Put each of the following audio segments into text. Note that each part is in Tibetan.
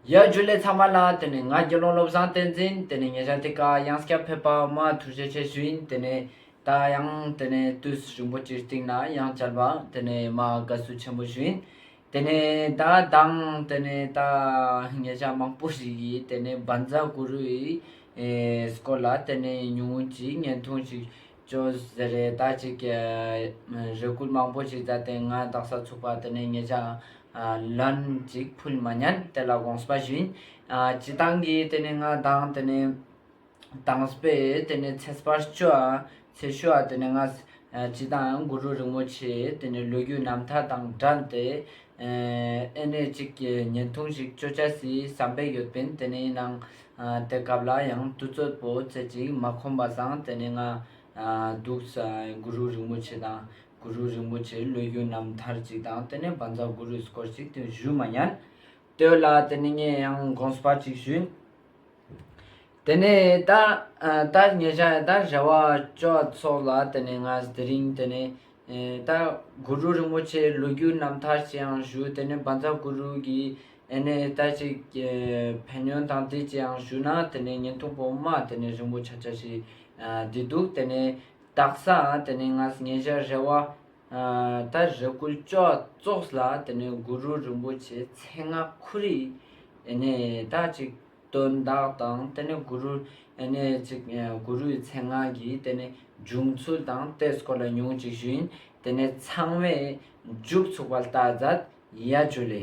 ཡར་རྒྱུགས་ལས་ཚང་མ་ལ་དེ་ནས་ང་དགེ་སློང་བློ་བཟང་བསྟན་འཛིན་དེ་ནས་ཉེ་ཆར་དེ་ག་དབྱངས་སྐྱབས་ཕེབས་པ་མ་ཐུར་བྱེད་ཆེ་ཞུན་དེ་ནས་ད་དབྱངས་དེ་ནས་ཏུས་རིན་པོ་ཆེའི་སྟེང་ན་དབྱངས་བཅར་བ་དེ་ནས་མ་དགའ་བསུ་ཆེན་པོ་ཞུན་དེ་ནས་ད་དང་དེ་ནས་ད་ངེད་ཅག་མང་པོ་ཞིག་གིས་དེ་ནས་འབར་འཛག་གུ་རུའི་སྐོར་ལ་དེ་ནས་ཉུང་ངུ་ཅིག་བརྙན་ཐུང་ཞིག་ཅོ་ཟེར་རེ་ད་ཅིག་གི། རེ་སྐུལ་མང་པོ་ཞིག་བྱས་ཏེ་ང་རྟགས་གསར་ཚུགས་པ་དེ་ནས་ངེད་ཅག་ལན་ཅིག་ཕུལ་མ་མྱངས་དེ་ལ་དགོངས་པ་བཞིན། སྤྱི་བཏང་གིས་དེ་ནས་ང་བདག་དེ་ནས་བཏངས་པས་དེ་ནས་ཚེ་སྤར་བཅུ། ཚེ་ཞུ་བ་དེ་ནས་ང་སྤྱི་བཏང་གུ་རུ་རིན་པོ་ཆེ་དེ་ནས་ལོ་རྒྱུས་རྣམ་ཐར་དང་སྦྲགས་ཏེ་ཨེ་ནས་གཅིག་གི་བརྙན་ཐུང་ཞིག་སྤྱོད་བྱ་སའི་བསམ་པས་ཡོད་པན་དེ་ནས་ནང་དེ་སྐབས་ལ་ཡང་དུས་ཚོད་པོ་ཚད་ཅིག་མ་ཁོམ་པ་སང་དེ་ནས་ང་འདུག་ས་གུ་རུ་རིན་པོ་ཆེ་དང་གུ་རུ་རིན་པོ་ཆེའི་བློ་རྒྱུན་རྣམས་ཐར་ཅིག་དང་དེ་ནས་བ་འཛག་གུ་རུས་སྐོར་ཅིག་དེ་བཞུས་མ་ཉན་དོད་ལ་དེ་ནས་ངས་ཡང་དགོངས་པ་ཅིག་ཞུས། དེ་ནས་ཏཱྃ། ཉེ་ཆར་ཏཱྃ་བྱ་བ་སྤྱོད་ཚོགས་ལ་དེ་ནས་ང་དེ་རིང་དེ་ནས་ཏཱྃ། གུ་རུ་རིན་པོ་ཆེའི་ལོ་རྒྱུས་རྣམ་ཐར་ཅིའང་ཞུ་དེ་ནས་འབངས་ཚ་གུ་རུ་གྱི་ཨེ་ནས་ཏཱ་ཅིག། ཕན་ཡོན་དང་དེ་ཅིའང་ཞུ་ན་དེ་ནས་ཉིན་ཐུང་པོ་མ་དེ་ནས་རིང་པོ་ཆ་ཆ་ཞིག་བསྡད་འདུག་དེ་ནས་ཏཱྃ། དེ་ནས་ང་ཉེ་ཆར་རེ་བ་ད་རེ་སྐུ་ལྕོག་བཙོགས་ལ་དེ་ནས་གུ་རུ་རིན་པོ་ཆེ་མཚན་སྔགས་ཁུ་རེ་ད་ཅིག་སྟོན་བདག་དང་དེ་ནས་གུ་རུ་ནས་ཅིག་གུ་རུའི་མཚན་སྔགས་ཀྱི་དེ་ནས་འབྱུང་ཚུལ་དང་གཏད་སྐོར་ལ་ཉུང་ཅིག་ཞུ་ཡིན་དེ་ནས་ཚང་མས་མཇུག་ཚུགས་པ་ལྟར་ཛཱ་ཡ་ཇུ་ལེ།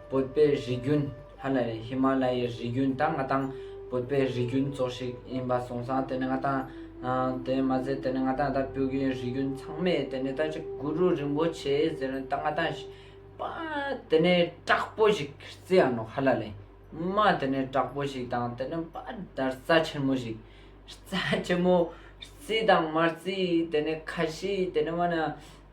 བོད་པའི་རིགས་རྒྱུན་ཧ་ལ་ཡའི་ཧི་མ་ལ་ཡའི་རིགས་རྒྱུན་དང་ང་དང་བོད་པའི་རིགས་རྒྱུན་གཙོ་ཞིག་ཡིན་པ་གསུངས་སང་དེ་ནི་ང་དང་དེ་མ་ཟད་དེ་ནི་ང་དང་ད་སྤོས་ཀྱི་རིགས་རྒྱུན་ཚང་མས་དེ་ནི་ད་ཅི་གུ་རུ་རིན་པོ་ཆེ་ཟེར་ནས་ད་ང་དང་པ་དེ་ནི་དྲག་པོ་ཞིག་རྩི་ཡ་ནོ་ཧ་ལ་ལའི་མ་དེ་ནི་དྲག་པོ་ཞིག་དང་དེ་ནི་པ་ད་རྩ་ཆེན་མོ་ཞིག་རྩ་ཆེན་མོ་རྩི་དང་མ་རྩི་དེ་ནི་ཁ་ཤི་དེ་ནི་མ་ན།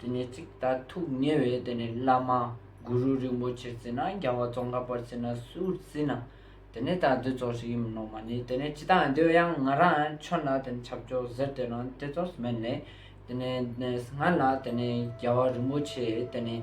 དེ་ནས་ཚིག་དག་ཐུགས་ཉེ་བའི་དེ་ནས་བླ་མ་གུ་རུ་རིན་པོ་ཆེར་བརྩིས་ན་རྒྱལ་བ་ཙོང་ཁ་པར་བརྩིས་ན་སུར་བརྩིས་ན་དེ་ནས་ད་འདི་ཚོགས་ཞིག་ཡིན་མི་ནོར་མ་ནི་དེ་ནས་ཅི་དང་འདོད་ཡང་ང་རང་ཁྱོད་ལ་དེ་ནས་ཆབ་ཆོག་ཟེར་དེ་ནང་དེ་ཚོགས་སྨད་ནས་དེ་ནས་ང་ལ་དེ་ནས་རྒྱལ་བ་རིན་པོ་ཆེས་དེ་ནས།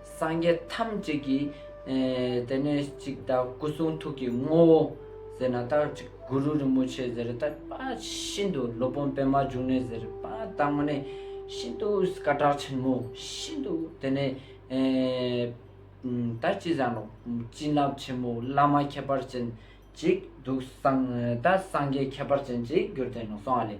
སངས་རྒྱས་ཐམས་ཅད་ཀྱི་དེ་ནས་ཅིག་ད་སྐུ་གསུང་ཐུགས་ཀྱི་ངོ་བོ་ཟེར་ན་ད་ཅིག་གུ་རུ་རིན་པོ་ཆེ་ཟེར་ད་པ་ཤིན་ཏུ་སློབ་དཔོན་པད་མ་འབྱུང་གནས་ཟེར་པ་ད་ངོ་ནས་ཤིན་ཏུ་སྐ་དྲག་ཆེན་མོ་ཤིན་ཏུ་དེ་ནས་ད་ཅི་ཟ་ནོ་སྤྱིན་རླབས་ཆེན་མོ་བླ་མ་ཁྱད་པར་ཅན་ཅིག་འདུག་ད་སངས་རྒྱས་ཁྱད་པར་ཅན་ཅིག་གྱུར་དེ་ནས་སོང་བ་ལས།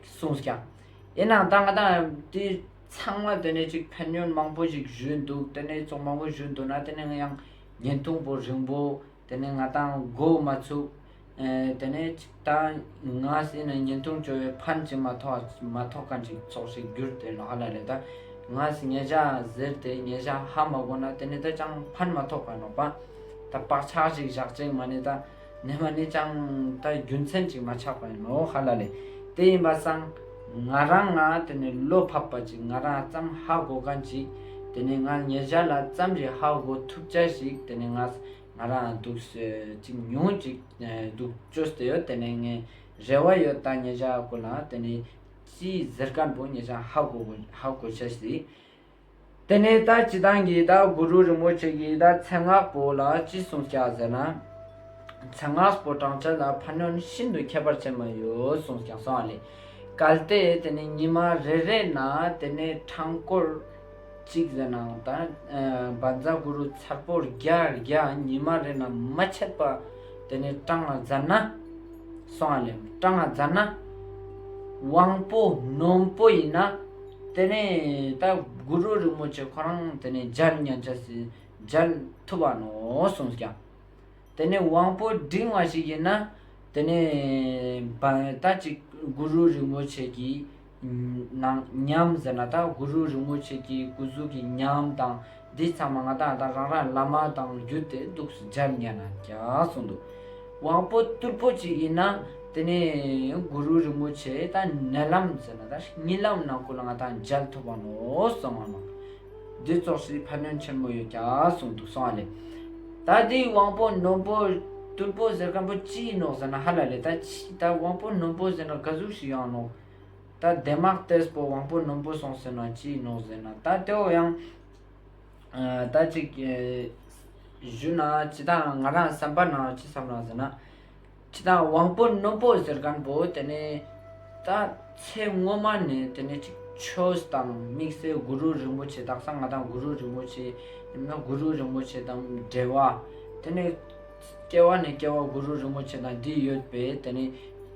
གསུངས་ཀྱང། ཡིན་ནའང་ད་ང་དང་དེ་ཚང་མ་དེ་ནས་ཅིག་ཕན་གནོད་མང་པོ་ཞིག་བཞུས་འདུག་དེ་ནས་བཙོག་མང་པོ་བཞུས་འདུག་ན་དེ་ནས་ཡང་ཉིན་ཐུང་པོ་རིང་པོ་དེ་ནས་ང་དང་སྒོ་མ་ཚུགས། དེ་ནས་ཅིག་ད་ང་ཟེར་ནས་ཉིན་ཐུང་བཅོལ་བའི་ཕན་ཅིག་མ་ཐོགས་མ་ཐོགས་ག་ཅིག་ཚོགས་ཤིག་བསྒྱུར་དེ་ལ་ཨ་ལ་ལས་ད་ང་ཉེ་བྱ་ཟེར་དེ་ཉེ་བྱ་ཧ་མ་གོ་ན་དེ་ནས་ད་ཅང་ཕན་མ་ཐོགས་ག་ནོག་པ་ད་བག་ཆགས་ཤིག་བཞག་ཅིག་མ་ནི་ད། རྣལ་མ་ནི་ཅང་ཏྭ་རྒྱུ་མཚན་ཅིག་མ་ཆགས་པ་ཡིན་ནོ་ཧ་ལ་ལས། དེ་ཡིན་པ་སང་ང་རང་ང་དེ་ནས་བློ་ཕབ་པ་ཅིག་ང་རང་བརྩམ་ཧ་གོ་ག་འཇིག་དེ་ནས་ང་ཉེ་ཆར་ལ་བརྩམ་རེ་ཧ་གོ་ཐུབ་ཅ་ཞིག་དེ་ནས་ང་ང་རང་འདུག་སོད་ཅིག་ཉུང་ཅིག་འདུག་ཅོ་སྟེ་ཡོད་དེ་ནས་ངས་རེ་བ་ཡོད་ད་ཉེ་ཆར་གོ་ལ་དེ་ནས་ཅིའི་ཟེར་ཀ་འགྲོ་ཉེ་ཆར་ཧ་གོ་གོ་ཧ་གོ་ཆ་ཞིག་དེ་ནས་ད་ཅི་དང་གི་ད་གུ་རུ་རིན་པོ་ཆེ་གི་ད་མཚན་སྔགས་པོ་ལ་ཅི་གསུང་བྱ་ཟེར་ན། མཚན་སྔགས་པོ་བགྲང་བྱ་ལ་ཕ་ནོན་ཤིན་ཏུ་ཁྱད་པར་ཅན་མ་ཡོད་གསུངས་ཀྱང་སོང་བ་ལས། གལ་ཏེ་དེ་ནི་ཉི་མ་རེ་རེ་ན་དེ་ནས་འཕྲང་སྐོར་གཅིག་ཟེར་ནའང་ད་འབར་འཛག་གུ་རུ་མཚར་པོ་བརྒྱ་བརྒྱ་ཉི་མ་རེ་ན་མ་ཆད་པ་དེ་ནས་སྤྲང་ང་བཛར་ན། སོང་བ་ལས། སྤྲང་ང་བཛར་ན། དབང་པོ་ནོན་པོ་ཡིན་ན། དེ་ནས་ད་དགུ་རོ་རིང་མོ་ཆེ་ཁོ་རང་དེ་ནས་སྦྱར་མཉན་བྱ་སྲིད་སྦྱར་ཐུབ་བ་ནོ་གསུངས་ཀྱང། དེ་ནས་དབང་པོ་འབྲིང་བ་ཞིག་ཡིན་ན་དེ་ནས་ད་ཅིག་དགུ་རོ་རིང་མོ་ཆེ་གི་ནང་ཉམས་ཟེར་ན་ད་དགུ་རོ་རིང་མོ་ཆེ་གི་སྐུ་གཟུགས་ཀྱི་ཉམས་དང། འདི་ཚང་མ་ང་དང་རང་རང་བླ་མ་དང་བརྒྱུད་དེ་སྡུག་སུ་སྦྱར་སྙན་ན་ཀྱང་གསུངས་འདུག་དབང་པོ་རྟུལ་ཕོ་ཅིག་ཡིན་ན་དེ་ནས་གུ་རུ་རིན་པོ་ཆེ་ད་ནད་ལམ་ཟེར་ན་ད་གཉིད་ལམ་ནང་ཁུལ་ལ་ང་དང་མཇལ་ཐུབ་པ་ནོ་གསང་བ་མང་འདི་ཙོག་སིའི་ཕ་ནོན་ཆེན་མོ་ཡོད་ཀྱང་གསུངས་འདུག་གསང་བ་ལས་ད་འདི་དབང་པོ་ནོན་པོ་རྟུལ་ཕོ་ཟེར་མཁན་པོ་ཅི་ཡིན་ནོ་ཟེར་ན་ཧ་ལ་ལས་ད་ཕྱིས་ད་དབང་པོ་ནོན་པོ་ཟེར་ན་ག་ཟུག་ཞིག་ཡང་ནོ། ད་བདེ་དམག་ལྟས་པོ་དབང་པོ་ནོམ་པོ་སོང་ཟེར་ན་ཅི་ཡིན་ནོ་ཟེར་ན་ད་དེའོ་ཡང། ད་ཅིག། བཞུད་ན་ཅི་དང་ང་རང་བསམ་པ་ན་ཅི་བསམ་ན་ཟེར་ན། ཁྱི་དང་དབང་པོ་ནོམ་པོ་ཟེར་མཁན་པོ་དེ་ནི། ད་ཚེ་སྔོན་མ་ནས་དེ་ནི་ཅིག་ཆོས་དང་དམིགས་བསལ་གུ་རུ་རིན་པོ་ཆེ་དག་ས་ང་དང་གུ་རུ་རིན་པོ་ཆེ། ཡིན་ན་གུ་རུ་རིན་པོ་ཆེ་དང་འབྲེལ་བ་དེ་ནི། སྐྱེ་བ་ནས་སྐྱེ་བ་གུ་རུ་རིན་པོ་ཆེ་དང་འདི་ཡོད་པས་དེ་ནི་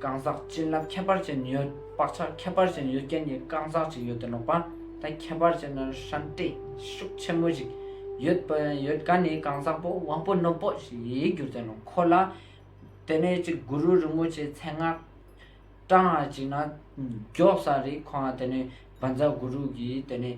གང་ཟག་བྱིན་རླབས་ཁྱད་པར་ཅན་ཡོད་བག་ཆགས་ཁྱད་པར་ཅན་ཡོད་རྐྱེན་གྱི་གང་ཟག་ཅིག་ཡོད་དེ་ནོག་པ་དང་ཁྱད་པར་ཅན་ན་ཧྲན་བཀྲེས་ཤུགས་ཆེན་མོ་ཞིག་ཡོད་པ་ཡོད་ག་ནི་གང་ཟག་པོ་དབང་པོ་རྣོན་པོ་ཞིག་ཡིད་གྱུར་ཅན་ནོ་ཁོ་ལ་དེ་ནས་ཅིག་གུ་རུ་རིན་པོ་ཆེའི་མཚན་སྔགས་བཀྲ་སྔགས་ཅིག་ན་རྒྱོབ་ས་རིག་ཁོང་དེ་ནི་བ་འཛག་གུ་རུ་གིས་དེ་ནི།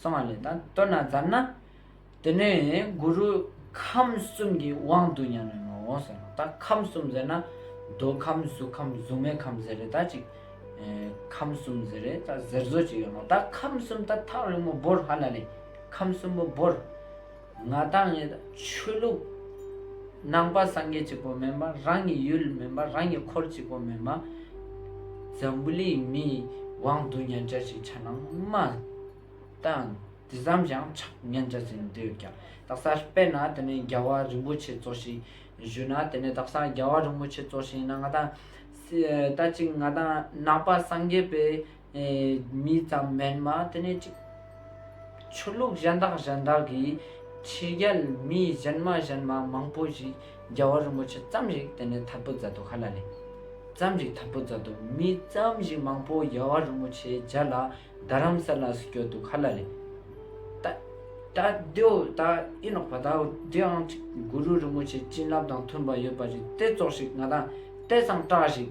གསང་བ་ལས་དང་སྟོད་ན་བརྫར་ན། དེ་ནས་གུ་རུ་ཁམས་གསུམ་གྱི་དབང་དུ་ཉམས་ནས་ནོ་ཟེར་རོ། ད་ཁམས་གསུམ་ཟེར་ན། འདོད་ཁམས་གཟུགས་ཁམས་གཟུགས་མེད་ཁམས་ཟེར་རེ་ད་ཅིག། ཁམས་གསུམ་ཟེར་རེ་ད་ཟེར་བཟོ་བྱེད་ཡོད་ནོ། ད་ཁམས་གསུམ་ད་ཐག་རིང་མོ་བོར་ཧ་ལ་ལས་ཁམས་གསུམ་པོ་བོར། ང་དང་ངེད་ཆོས་ལུགས་ནང་པ་སངས་རྒྱས་གཅིག་པོ་མིན་པ་རང་གི་ཡུལ་མིན་པ་རང་གི་འཁོར་གཅིག་པོ་མིན་པ་འཛམ་བུ་གླིང་མིའི་དབང་དུ་ཉན་བྱ་ཞིག་ཆ་ནང་མ་གཏང་དེ་ཙམ་ཞིང་ཆགས་ཉན་བྱ་ཟིན་འདོད་ཀྱང་རྡ་སར་སྤེལ་ན་དེ་ནི་རྒྱལ་བ་རིན་པོ་ཆེ་གཙོ་ཞིང་བཞུད་ན་དེ་ནི་རྡ་སར་རྒྱལ་བ་རིན་པོ་ཆེ་གཙོ་ཞིང་ན་ང་དང། ད་ཅིག་ང་དང་ནང་པ་སངས་རྒྱས་པའི་མི་ཙམ་མེད་མ་དེ་ནས་ཅིག། ཆོས་ལུགས་གཞན་དག་གཞན་དག་གིས་ཕྱི་རྒྱལ་མི་གཞན་མ་གཞན་མ་མང་པོ་ཞིག་རྒྱལ་བ་རིན་པོ་ཆེ་ཙམ་ཞིག་དེ་ནས་ཐར་པོ་མཛད་དོ་ག་ལ་ལས། ཙམ་ཞིག་ཐར་པོ་མཛད་དོ་མི་ཙམ་ཞིག་མང་པོ་རྒྱལ་བ་རིན་པོ་ཆེའི་རྗེས་ལ་རྡ་རམ་ས་ལ་སུ་བསྐྱོད་དོ་ག་ལ་ལས། ད་ད་དེའོ་ད་ཨེ་ནོག་པ་དའོ་དེའང་ཅིག་གུ་རུ་རིན་པོ་ཆེའི་བྱིན་རླབས་དང་མཐུན་པ་ཡོད་པ་ཞིག་སྟེ་ཙོག་ཞིག་ང་དང་ལྟས་ཙམ་སྐྲག་ཞིག།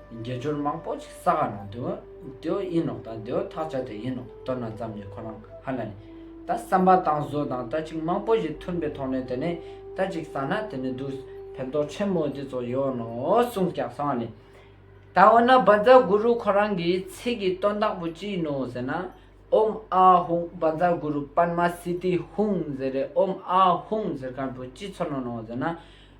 དགེ་སྦྱོར་མང་པོ་ཞིག་ས་ག་ན་དུ་དེའོ་ཡིན་ནོ་དང་དེའོ་ཐག་ཆ་དེ་ཡིན་ནོ་དོར་ན་ཙམ་གྱིས་ཁོ་རང་ཧ་ལ་ནི། ད་བསམ་པ་དང་བཟོ་དང་ལྟ་ཅིག་མང་པོ་ཞིག་མཐུན་པའི་ཐོག་ནས་དེ་ནི་ལྟ་ཅིག་བསགས་ན་དེ་ནི་དུས་ཕན་ཐོགས་ཆེན་པོ་འདི་ཚོ་ཡོད་ནོ་གསུངས་ཀྱང་སོང་བ་ནི། ད་འོ་ན་བ་ཛཱ་གུ་རུ་ཁོ་རང་གིས་ཚིག་གི་དོན་དག་པོ་ཅི་ཡིན་ནོ་ཟེར་ན། ཨོམ་ཨ་ཧུང་བ་ཛཱ་གུ་རུ་པདྨ་སི་ཏི་ཧཱུྃ་ཟེར་རེ་ཨོམ་ཨ་ཧུང་ཟེར་མཁན་པོ་ཅི་ཚོར་ནོ་ཟེར་ན།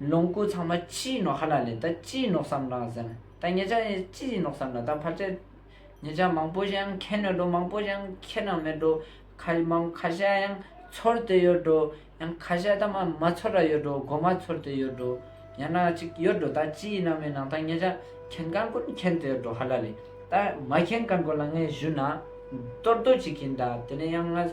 ལོངས་སྐུ་ཚང་མ་ཅིའི་ནོག་ཧ་ལ་ལས་ད་ཅིའི་ནོག་བསམ་རང་ཟན་ད་ངེད་ཅག་ཡང་ཅིའི་ནོག་བསམ་ལ་ད་ཕར་ཆེར་ངེད་ཅག་མང་པོ་ཞིག་ཡང་ཁྱེད་ནས་འགྲོ་མང་པོ་ཞིག་ཡང་ཁྱེད་ནང་མེད་འགྲོ་ཁ་མང་ཁ་ཤས་ཡང་ཚོར་དེ་ཡོད་འགྲོ་ཡང་ཁ་ཤས་ད་མ་མ་ཚོར་ར་ཡོད་འགྲོ་མགོ་མ་ཚོར་དེ་ཡོད་འགྲོ་ཡང་ན་ཅིག་ཡོད་འགྲོ་ད་ཅིའི་ནང་མེད་ནང་ད་ངེད་ཅག་མཁྱེན་གང་ཀུན་མཁྱེན་དེ་ཡོད་འགྲོ་ཧ་ལ་ལས་ད་མ་མཁྱེན་གང་ཀུན་ལ་ངའི་གཞུད་ན་གཏོར་རྡོ་ཅིག་གིན་ད་དེ་ནས་ཡང་ང།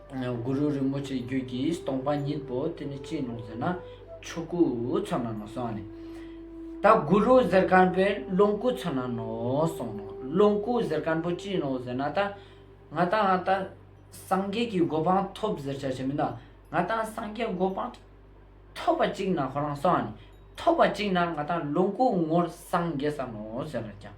གུ་རུ་རིན་པོ་ཆེའི་རྒྱུད་ཀྱི་སྟོང་པ་ཉིད་དུ་དེ་ནི་ཅི་ཡིན་ནོ་ཟེར་ན་ཆོས་སྐུ་ཚོར་སྣང་ངོ་སོང་ནས། ད་གུ་རུ་གཟེར་དཀར་པོའི་ལོངས་སྐུ་ཚོར་སྣང་ངོ་སོང་ནོ། ལོངས་སྐུ་གཟེར་དཀར་པོ་ཅི་ཡིན་ནོ་ཟེར་ན་ད་ང་ད་ང་ད་སངས་རྒྱས་ཀྱི་གོ་འཕང་ཐོབ་ཟེར་བྱ་ཞེ་མིན་ན་ང་ད་སངས་རྒྱས་གོ་འཕང་ཐོབ་པ་ཅིག་ན་ཁོ་རང་སོང་ནས་ཐོབ་པ་ཅིག་ན་ང་ད་ལོངས་སྐུ་ངོར་སངས་རྒྱས་སམ་ནོ་ཟེར་ན་ཀྱང།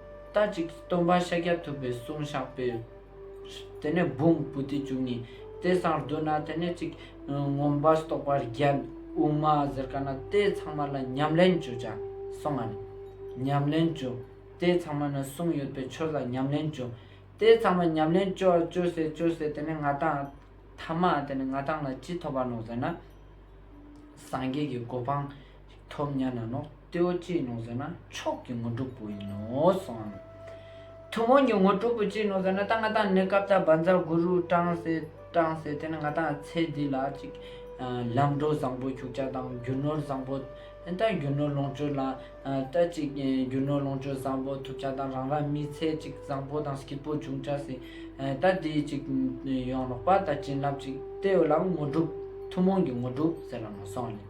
རྟ་གཅིག་གིས་སྟོང་པ་ཤཱཀྱ་ཐུབ་པའི་གསུང་བཤགས་པས། དེ་ནས་བུམ་བུ་སྟེ་བཅུ་གཉིས་དེ་སང་བསྡུ་ན་དེ་ནས་གཅིག། ངོམས་པ་སྟོགས་པ་རྒྱལ་དབུ་མ་གཟིར་ཀ་ན་དེ་ཚང་མ་ལ་ཉམས་ལེན་བཅུ་བྱ་གསུང་ངམ། ཉམས་ལེན་བཅུ། དེ་ཚང་མ་ནི་གསུང་ཡོད་པའི་ཆོས་ལ་ཉམས་ལེན་བཅུ། དེ་ཚང་མ་ཉམས་ལེན་བཅོ་བཅོ་ཟེར་བཅོ་ཟེར་དེ་ནས་ང་ཐང། ཐ་མ་དེ་ནས་ང་ཐང་ལ་ཅི་ཐོབ་པ་ནོ་ཟེར་ན། སངས་རྒྱས་ཀྱི་གོ་འཕང། ཐོབ་སྙམ་ན་ནོ། ལྟེ་བ་ཅི་ཡིན་ནོ་ཟེར་ན་མཆོག་གི་དངོས་གྲུབ་པོ་ཡིན་ནོ་གསུང་ངོ། ཐུན་མོང་གི་དངོས་གྲུབ་པོ་ཅི་ཡིན་ནོ་ཟེར་ན་ད་ང་དང་ནི་སྐབས་དག་བ་འཛག་གུ་རུ་སྤྲང་སེསྤྲང་སེ་དེ་ནི་ང་དང་ཚེ་འདི་ལ་ཅིག། ལམ་འགྲོ་བཟང་པོ་འཁྱུག་ཆ་དང་རྒྱུ་ནོར་བཟང་པོ། ད་རྒྱུ་ནོར་ལོངས་སྤྱོད་ལ། ད་ཅིག་རྒྱུ་ནོར་ལོངས་སྤྱོད་བཟང་པོ་ཐུབ་ཆ་དང་རང་རང་མི་ཚེ་ཅིག་བཟང་པོ་དང་སྐྱིད་པོ་འབྱུང་ཆ་སྲིད། ད་དེ་ཅིག་ཡོང་རོགས་པ་ད་བྱིན་རླབས་ཅིག་སྟེར་ལ་དངོས་གྲུབ་ཐུན་མོང་གི་དངོས་གྲུབ་ཟེར་ལ་མ་གསུང་ངོ།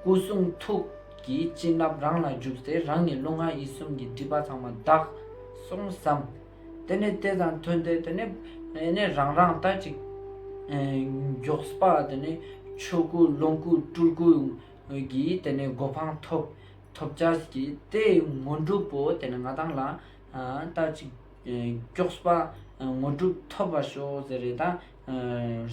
སྐུ་གསུང་ཐུགས་ཀྱི་བྱིན་རླབས་རང་ལ་འཇུག་ཚེ་རང་ཉིད་རླུང་ངག་ཡིད་གསུམ་གྱི་སྒྲིབ་པ་ཚང་མ་དག་སོང་བསམ། དེ་ནས་དེ་དང་མཐུན་ཏེ་དེ་ནས་རང་རང་ལྟ་ཅིག། མགྱོགས་པ་དེ་ནས་ཆོས་སྐུ་ལོངས་སྐུ་སྤྲུལ་སྐུ་གྱིས་དེ་ནས་གོ་འཕང་ཐོབ། ཐོབ་བྱ་ཀྱི་དེ་དངོས་གྲུབ་བོ་དེ་ནས་ང་དང་ལ་ལྟ་ཅིག། མགྱོགས་པ་དངོས་གྲུབ་ཐོབ་པར་ཤོག་ཟེར་རེད་ད།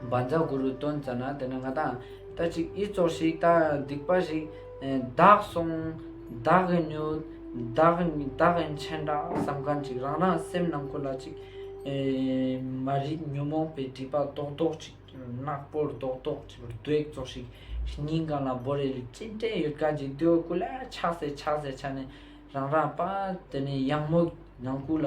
འབར་འཛག་གུ་རུ་སྟོན་ཙ་ན་དེ་ན་ང་དང་ད་ཅིག་ཨི་ཙོག་ཤིག་ད་སྡིག་པ་ཞིག་བདག་སོང་བདག་གི་མྱུར་བདག་བདག་གི་མཆན་འདྲ་བསམ་གང་ཅིག་རང་རང་སེམས་ནང་ཁུ་ལ་ཅིག་མ་རིག་ཉོན་མོངས་པའི་སྒྲིབ་པ་རྡོག་རྡོག་ཅིག་ནག་པོར་རྡོག་རྡོག་ཅིག་བརྡོལ་ཙོག་ཤིག་སྙིང་གང་ལ་བོར་རེ་ལུས་ཅི་འདྲེན་ཡོད་གང་ཅིག་དུས་ཀུ་ལ་ཆགས་སེ་ཆགས་སེ་ཆགས་ནས་རང་རང་པ་དེ་ནས་གཡང་མོ་ནང་ཁུ་ལ་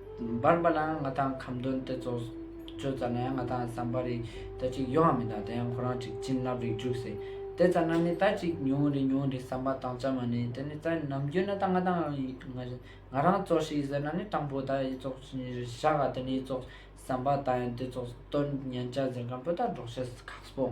འབར་འབར་ལའང་ང་དང་ཁམ་སྟོན་ཏེ་ཚོགས་གཙོས་ཙར་ནའི་ང་དང་བསམ་པ་རིག་ད་ཅིག་ཡོའང་མི་འདང་དེ་ཡང་ཁོ་རང་ཅིག་བྱིན་རླབས་རིག་འཇུག་ཟེར་དེ་ཙར་ན་ནི་ད་ཅིག་ཉུང་རེ་ཉུང་རེ་བསམ་པ་དང་བཅར་མ་ནི་དེ་ནི་ཙར་ནམ་རྒྱུན་ན་ད་ང་དང་ང་རང་ཚོགས་ཤིག་ཟེར་ན་ནི་སྤྲང་པོ་ད་ཡི་ཚོགས་བཞག་ག་དེ་ནི་ཚོགས་བསམ་པ་ད་ཡང་དེ་ཚོགས་གཏོར་མཉན་བྱ་ཟེར་གམ་པོ་ད་འགྲོགས་བྱེད་ཁག་པོ།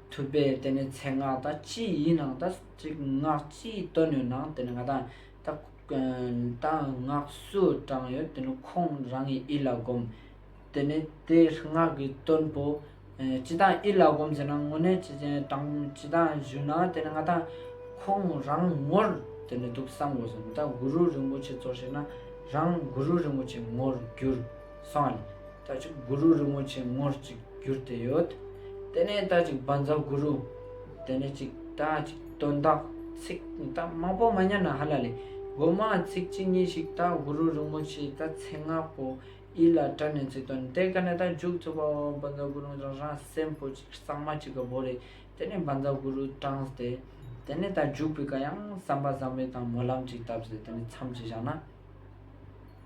ཐུབ་པས་དེ་ནི་ཚད་སྔགས་དང་སྤྱི་ཡི་ནང་དང་གཅིག་སྔགས་སྤྱི་ཡི་དོན་ཡོད་ནའང་དེ་ནི་ང་དང་སྔགས་སུ་བགྲངས་ཡོད་དེ་ནི་ཁོང་རང་གི་ཨི་ལ་བསྒོམ། དེ་ནི་དེ་སྔགས་ཀྱི་དོན་བོ། སྤྱི་དང་ཨི་ལ་བསྒོམ་ཟེར་ན་དངོས་གནས་སྤྱི་དང་བཞུགས་ན་དེ་ནི་ང་དང་ཁོང་རང་ངོར་དེ་ནི་འདུག་བསམ་དགོས་སོ། མི་དང་གུ་རུ་རིན་པོ་ཆེ་གཙོར་བྱས་ན་རང་གུ་རུ་རིན་པོ་ཆེ་ངོར་འགྱུར། སང་ཉིན་ད་ཅིག་གུ་རུ་རིན་པོ་ཆེ་ངོར་ཅིག་བསྒྱུར་ཏེ་ཡོད། དེ་ནས་ད་ཅིག་བ་འཛག་གུ་རུ། དེ་ནས་ཅིག་ད་ཅིག་དོན་དག་ཚིག་ད་མང་པོ་མ་ཉན་ན་ཧ་ལ་ལས་དགོས་མ་ཚིག་ཅི་ཉིན་ཞིག་ད་གུ་རུ་རིན་པོ་ཆེའི་ད་ཚེ་ང་པོ་ཨི་ལ་བཀྲ་ནས་ཚིག་དོན་དེ་ག་ནས་ད་འཇུག་ཚུགས་པ་བ་བ་འཛག་གུ་རུ་རང་རང་སེམས་པོ་ཅིག་གཙང་མ་ཅིག་ག་བོ་རེད་དེ་ནས་བ་འཛག་གུ་རུ་དྲངས་ཏེ། དེ་ནས་ད་འཇུག་པའི་ག་ཡང་བསམ་པ་བཟང་པོའི་དང་མོ་ལམ་ཅིག་བཏབ་ཟེར་དེ་ནས་མཚམས་ཅིག་བཞག་ན།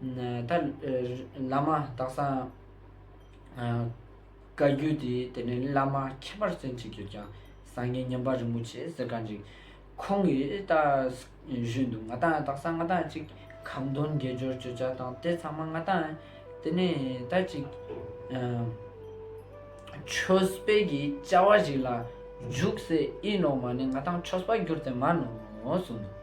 ད་བླ་མ་དག་སང་བཀའ་བརྒྱུད་དེ་དེ་ནས་བླ་མ་ཁྱད་པར་ཅན་གཅིག་གྱུར་ཀྱང་སངས་རྒྱས་མཉམ་པ་རིན་པོ་ཆེ་ཟེར་ག་འགྲིག། ཁོང་གིས་ད་བཞུད་འདུག་ང་དང་དག་སང་ང་དང་གཅིག་གམ་མདུན་དགེ་སྦྱོར་བརྗོད་བྱ་དང་དེ་ཚང་མ་ང་དང་དེ་ནས་ད་གཅིག་ཆོས་སྤེལ་གྱི་བཅའ་བ་ཞིག་ལ་འཇུག་ཟེར་ཨི་ནོ་མ་ནི་ང་དང་ཆོས་སྤར་གྱུར་ཚེ་མ་ནོ་གསུངས་འདུག།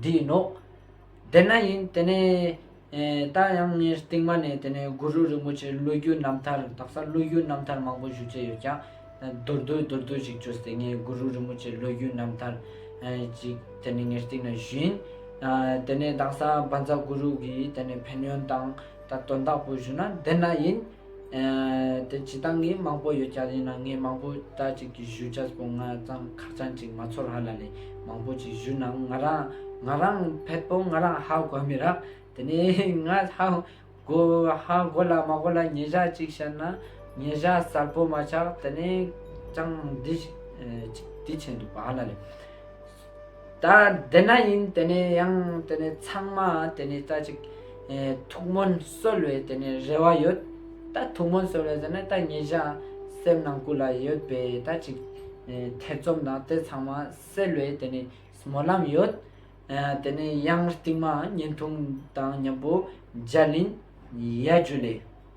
འདི་ཡིན་ནོ། དེ་ན་ཡིན་དེ་ནས། ད་ཡང་ངས་རྟིང་མ་ནས་དེ་ནས་གུ་རུ་རིན་པོ་ཆེའི་བློ་རྒྱུད་རྣམ་ཐར་དག་ས་བློ་རྒྱུད་རྣམ་ཐར་མང་པོ་ཞུ་རྩིས་ཡོད་ཀྱང། མདོར་བསྡུས་མདོར་བསྡུས་ཅིག་བརྗོད་ཚེ་ངས་གུ་རུ་རིན་པོ་ཆེའི་བློ་རྒྱུད་རྣམ་ཐར། ཅིག་དེ་ནས་ངས་རྟིང་ན་ཞུས་ཡིན། དེ་ནས་དག་ས་འབའ་འཛག་གུ་རུ་གིས་དེ་ནས་ཕན་ཡོན་དང། དོན་དག་པོ་ཞུས་ན་དེ་ན་ཡིན། དེ་ཇི་ལྟར་ངའི་མང་པོ་ཡོད་ཀྱང་ཡིན་ན་ངས་མང་པོ་ད་ཅིག་གི་བཞུད་ཆ་སྤོ་ང་ཙང་ཁ་ཚང་ཅིག་མ་ཚོར་ཧ་ལ་ལས་མང་པོ་ཅིག་བཞུད་ནའང་ང་རང་ང་རང་ཕད་པོ་ང་རང་ཧ་གོ་མི་རག་དེ་ནས་ང་ཧ་གོ་ཧ་གོ་ལ་མ་གོ་ལ་ཉེ་བཞག་ཅིག་བཤད་ན་ཉེ་བཞག་གསར་པོ་མ་ཆག་དེ་ནས་ཅང་འདི་ཅིག་འདི་བྱས་འདུག་པ་ཧ་ལ་ལས། ད་འདི་ན་ཡིན་དེ་ནས་ཡང་དེ་ནས་ཚང་མ་དེ་ནས་ད་ཅིག་ཐུགས་སྨོན་གསོལ་བའི་དེ་ནས་རེ་བ་ཡོད་ད་ཐུགས་སྨོན་གསོལ་བའི་དེ་ནས་ད་ངེད་ཅག་སེམས་ནང་སྐུ་ལ་ཡོད་པའི་ད་ཅིག་ཐེ་ཚོམ་དང་དེ་ཚང་མ་སེལ་བའི་དེ་ནས་སྨོན་ལམ་ཡོད་དེ་ནས་ཡང་རྟིང་མ་བརྙན་ཐུང་དང་མཉམ་པོ་འཇའ་ལིན་ཡལ་རྒྱུ་ལས།